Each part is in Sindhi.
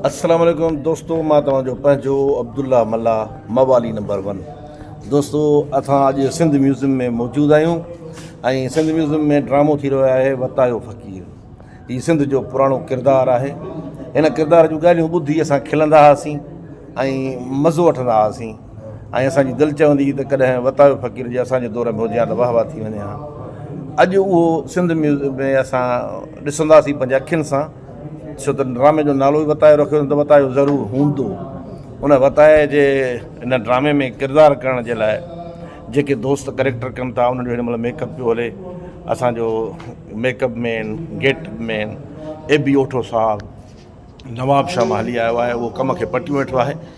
السلام عليڪم دوستو مان توهان جو پنهنجو عبدالله ملاح موالي نمبر ون دوستو اسان اڄ سنڌ ميوزيم ۾ موجود آهيون ۽ سنڌ ميوزيم ۾ ڊرامو ٿي رهيو آهي وتايو فقير هي سنڌ جو پراڻو ڪردار آهي هن ڪردار جون ڳالهيون ٻڌي اسان کلندا هئاسين ۽ مزو وٺندا هئاسين ۽ اسانجي دل چوندي هئي ته ڪڏهن وتايو فقير جي اسانجي دور ۾ هجي ها ته واهه واهه ٿي وڃي ها اڄ اهو سنڌ ميوزيم ۾ اسان ڏسنداسين پنهنجي اکين سان سو ته ڊرامي جو نالو ئي وتايو رکيو اٿن ته وتايو ضرور هوندو ان وتايي جي ان ڊرامي ۾ ڪردار ڪرڻ جي لاء جيڪي دوست ڪريڪٽر ڪن ٿا انهن جو هن مهل ميڪ اپ پيو هلي اسانجو make up man get up man اي بي اوٺو صاحب نواب شاهه مالهي آيو آهي اهو ڪم کي پٽيون ويٺو آهي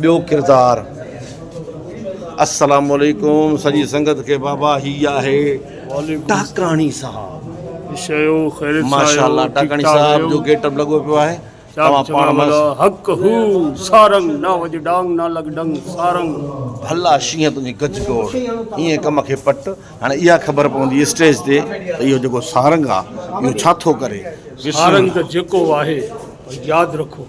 ٻيو ڪردار. السلام عليڪم سڄي سنگت کي بابا هي آهي ٽاڪاڻي صاحب ماشاء الله ٽاڪاڻي صاحب جو گيٽ اپ لڳو پيو آهي توهان پاڻ مس حق هو سارنگ نه وڄ ڊانگ نه لڳ ڊنگ سارنگ ڀلا شينهن تنهنجي گج گوڙ ايئن ڪم کي پٽ هاڻي اها خبر پوندي اسٽيج تي ته اهو جيڪو سارنگ آهي اهو ڇا ٿو ڪري سارنگ ته جيڪو آهي ياد رکو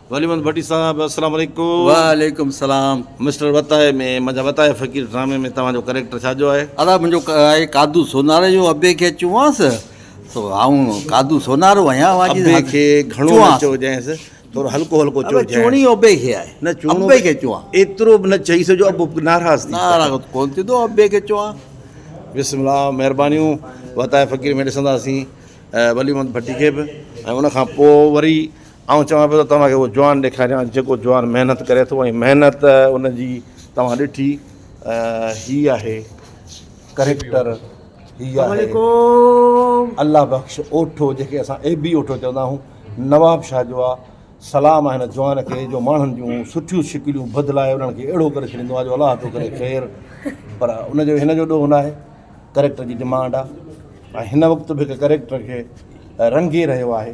ولي محمد ڀٽي صاحب السلام عليڪم. وعليڪم السلام. مسٽر وتايي ۾ منهنجا وتايا فقير ڊرامي ۾ توهان جو ڪريڪٽر ڇا جو آهي؟ ادا منهنجو آهي قادو سونارو جو ابي کي چوانس تو آئون قادو سونارو آهيان اوهان جي ابي کي گهڻو نه چوجانس ٿورو هلڪو هلڪو چوجانس ادا چوڻي ابي کي آهي نه چوڻو ابي کي چوان ايترو به نه چئيس جو ابو ناراض ٿي ناراض ڪون ٿيندو ابي کي چوان بسم الله مهربانيون وتايا فقير ۾ ڏسنداسين ولي محمد ڀٽي کي به ۽ ان کان پوء وري آئون چوان پيو ته توهان کي اهو جوان ڏيکاريان جيڪو جوان محنت ڪري ٿو ۽ محنت ان جي توهان ڏٺي هي آهي ڪريڪٽر هي آهي الله بخش اوٺو جنهن کي اسان اي بي اوٺو چوندا آهيون نواب شاهه جو آ سلام آهي هن جوان کي جو ماڻهن جون سٺيون شڪليون بدلائي انهن کي اهڙو ڪري ڇڏيندو آهي جو الله ٿو ڪري خير پر ان جو هن جو ڏوهه ناهي ڪريڪٽر جي ڊمانڊ آهي ۽ هن وقت به هڪ ڪريڪٽر کي رنگي رهيو آهي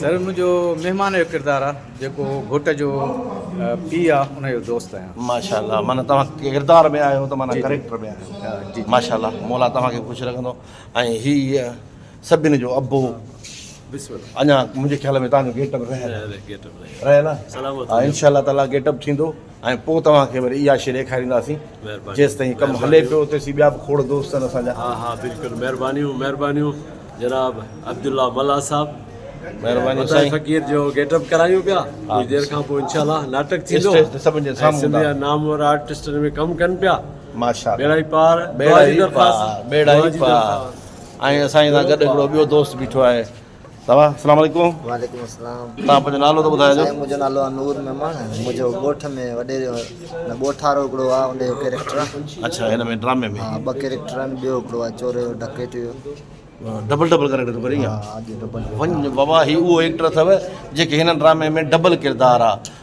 سر منهنجو مهمان جو ڪردار آ جيڪو گهوٽ جو پي آ ان جو دوست آهيان. ماشاء الله معنيٰ توهان ڪردار ۾ آهيو ته معنيٰ ڪريڪٽر ۾ آهيو ماشاء الله مولا توهان کي خوش رکندو ۽ هي سڀن جو ابو اڃان منهنجي خيال ۾ توهان جو گيٽ اپ رهيل آهي رهيل آهي ان شاء الله تعالٰي گيٽ اپ ٿيندو. ۽ پوء توهان کي وري اها شيء ڏيکارينداسين جيستائين ڪم هلي پيو تيسين ٻيا به کوڙ دوست آهن اسان جا. ها ها بلڪل مهربانيون مهربانيون جناب عبدالله ملاح صاحب مهربانيون سائين فقير جو گيٽ اپ ڪرايون پيا ڪجهه دير کان پوء انشاء الله ناٽڪ ٿيندو اسٽيج تي سڀن جي سامهون سنڌ جا نامور آرٽسٽن ۾ ڪم ڪن پيا ماشاءالله ٻيڙا ئي پار ٻيڙا ئي پار ٻيڙا ئي پار ۽ اسان سان گڏ هڪڙو ٻيو دوست بيٺو آهي بابا اسلام عليڪم وعليڪم اسلام تان پنهنجو نالو ته ٻڌايو سائين منهنجو نالو آ نور ميمڻ منهنجو ڳوٺ ۾ وڏي نه ڳوٺارو هڪڙو آ ان جو ڪيريڪٽر آ اچھا هن ۾ ڊرامي ۾ ها ٻه ڪيريڪٽر آهن ٻيو هڪڙو آ چوري جو ڊڪيٽ جو ڊبل ڊبل ڪيريڪٽر ڪري ها اڄ ڊبل ون بابا هي اهو ايڪٽر اٿو جيڪي هن ڊرامي ۾ ڊبل ڪردار آ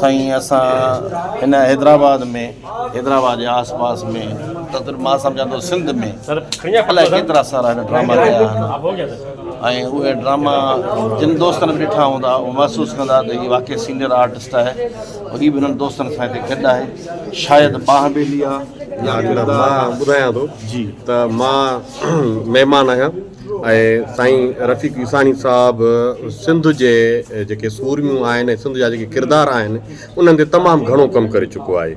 سائين اسان هن حيدرآباد ۾ حيدرآباد جي آس پاس ۾ تقريبا مان سمجهان ٿو سنڌ ۾ الائي ڪيترا سارا هن ڊراما ڪيا آهن ۽ اهي ڊراما جن دوستن به ڏٺا هوندا اهو محسوس ڪندا ته هي واقعي سينئر آرٽسٽ آهي ۽ هي به هنن دوستن سان هتي گڏ آهي شايد ٻانهن ٻيلي آهي ٻڌايان ٿو جي ته مان مهمان آهيان ۽ سائين رفيق عيساڻي صاحب سنڌ جي جيڪي سورميون آهن ۽ سنڌ جا جيڪي ڪردار آهن انهن تي تمام گهڻو ڪم ڪري چڪو آهي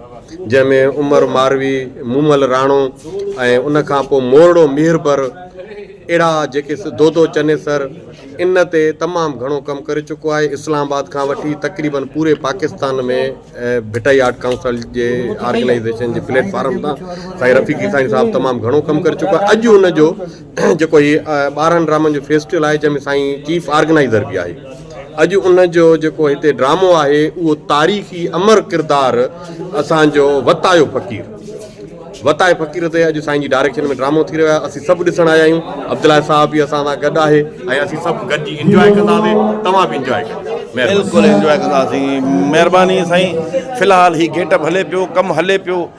جنهن ۾ عمر ماروي مومل راڻو ۽ ان کان پوء مورڙو ميربر اهڙا جيڪي دودو چنيسر ان تي تمام گهڻو ڪم ڪري چڪو آهي اسلام آباد کان وٺي تقريبن پوري پاڪستان ۾ ڀٽائي آرٽ ڪائونسل جي آرگنائيزيشن جي پليٽ فارم تان سائين رفيق عيساڻي صاحب تمام گهڻو ڪم ڪري چڪو آهي اڄ ان جو جيڪو هي ٻارهن ڊرامن جو فيسٽيول آهي جنهن ۾ سائين چيف آرگنائزر به آهي اڄ ان جو جيڪو هتي ڊرامو آهي اهو تاريخي امر ڪردار اسانجو وتايو فقير وتايو فقير تي اڄ سائين جي ڊائريڪشن ۾ ڊرامو ٿي رهيو آهي اسين سڀ ڏسڻ آيا آهيون عبدالله صاحب به اسان سان گڏ آهي ۽ اسين سڀ گڏجي انجوائي ڪنداسين توهان به انجوائي ڪيو بلڪل انجوائي ڪنداسين مهرباني سائين في الحال هي گيٽ اپ هلي پيو ڪم هلي پيو